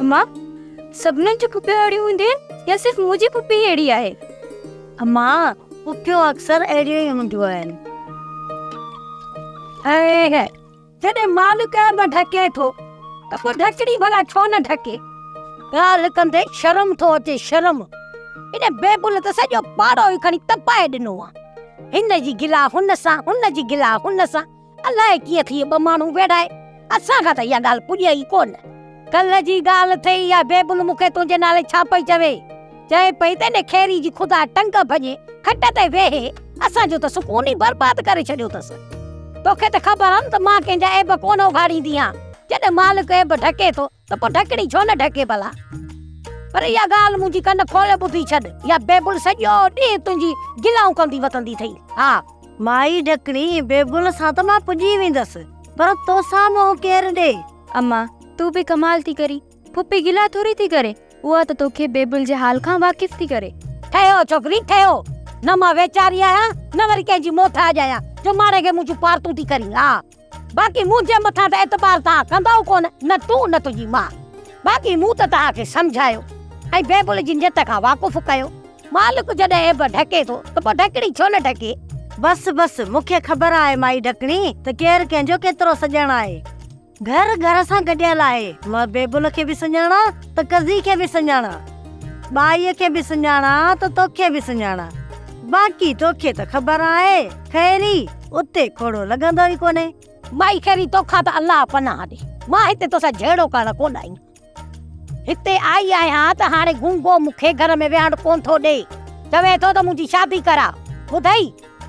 اما سڀنن جون پڦيون اهڙيون هونديون آهن يا صرف منهنجي پڦي ئي اهڙي آهي؟ اما پڦيون اڪثر اهڙيون ئي هونديون آهن. اهي جڏهن مال ڪنهن به ڍڪي ٿو ته پوء ڍڪڻي ڀلا ڇو نه ڍڪي؟ ڳالهه ڪندي شرم ٿو اچي شرم. هن بيبل ته سڄو پاڙو ئي کڻي تپائي ڏنو آهي. هن جي گلا هن سان، هن جي گلا هن سان، الائي ڪيئن ٿي ٻه ماڻهو ويڙهائي، اسان کان ته اها ڳالهه پڄي ئي ڪونه. ڪلهه جي ڳالهه ٿئي اها بيبل مون کي تنهنجي نالي ڇا پئي چوي؟ چئي پئي ته ان خيري جي خدا ٽنگ ڀڃي کٽ تي ويهي، اسان جو ته سڪون ئي برباد ڪري ڇڏيو اٿس. توکي ته خبر آهي نه ته مان ڪنهن جا عيب ڪونه اگهاڙيندي آهيان، جڏهن مالڪ عيب ڍڪي ٿو ته پوء ڍڪڻي ڇو نه ڍڪي ڀلا؟ پر اها ڳالهه منهنجي ڪن کولي ٻڌي ڇڏ، اها بيبل سڄو ڏينهن تنهنجي گلائون ڪندي وتندي اٿئي. ها! مائي ڍڪڻي، بيبل سان ته مان پڄي ويندس، پر توسان منهن ڪير ڏئي؟ اما، تون به ڪمال ٿي ڪرين. ڦوڦي گلا ٿوري ٿي ڪري، اها ته توکي بيبل جي حال کان واقف ٿي ڪري. ٺهيو ڇوڪري، ٺهيو. نه مان ويچاري آهيان، نه وري ڪنهن جي موٿ آجي آهيان، جو ماڻهن کي منهنجون پارتون ٿي ڪرين. ها! باقي منهنجي مٿان ته اعتبار توهان ڪندؤ ڪونه، نه تون نه تنهنجي ماء. باقي مون ته توهان کي سمجهايو ۽ بيبل جي نيت کان واقف ڪيو. مالڪ جڏهن عيب ڍڪي ٿو ته پوء ڍڪڻي ڇو نه ڍڪي؟ بس بس، مون کي خبر آهي مائي ڍڪڻي ته ڪير ڪنهن جو ڪيترو سڄڻ آهي. گهر گهر سان گڏيل آهي. مان بيبل کي به سڃاڻان ته ڪزي کي به سڃاڻان. ٻائيء کي به سڃاڻان ته توکي به سڃاڻان. باقي توکي ته خبر آهي، خيري! اتي ڪوڙو لڳندو ئي ڪونهي. مائي خيري توکان ته الله پناهه ڏي، مان هتي توسان جهيڙو ڪرڻ ڪونه آئي آهيان. هتي آئي آهيان ته هاڻي گونگو مون کي گهر ۾ ويهڻ ڪونه ٿو ڏي، چوي ٿو ته منهنجي شادي ڪراء، ٻڌئي؟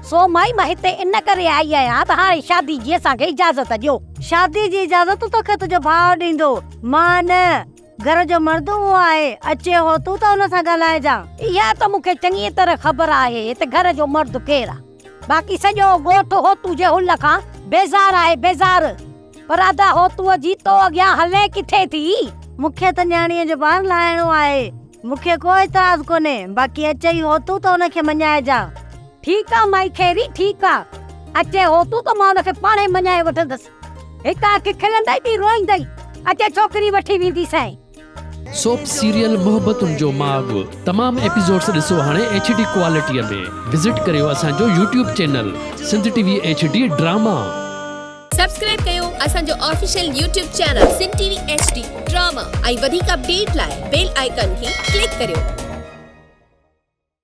سو مائي مان هتي ان ڪري آئي آهيان ته هاڻي شادي جي اسان کي اجازت ڏيو. شادي جي اجازت توکي تنهنجو ڀاء ڏيندو، مان نه. گهر جو مرد اهو آهي، اچي هو تون ته هن سان ڳالهائجان. اها ته مون کي چڱيء طرح خبر آهي ته گهر جو مرد ڪير آهي، باقي سڄو ڳوٺ هوتو جي هل کان بيزار آهي، بيزار! پر ادا هوتوء جي تو اڳيان هلين ڪٿي ٿي؟ مون کي ته نياڻيء جو بار لاهڻو آهي، مون کي ڪو اعتراض ڪونهي، باقي اچي هو تون ته هن کي مڃائجان. ٺيڪ آهي مائي خيري، ٺيڪ آهي، اچي هو تون ته مان هن کي پاڻهي مڃائي وٺندس. هڪ اک کلندئي ٻي روئيندئي. اچي ڇوڪري وٺي ويندي سائين. سوپ سيريل محبتن جو ماڳ تمام ايپيسوڊس ڏسو هاڻي ايڇ ڊي ڪوالٽيء ۾ وزٽ ڪريو اسان جو YouTube channel Sindh T V H D drama. Subscribe ڪيو اسان جو official YouTube channel Sindh T V H D drama ۽ وڌيڪ اپڊيٽ لاء بيل آئيڪان کي ڪلڪ ڪريو.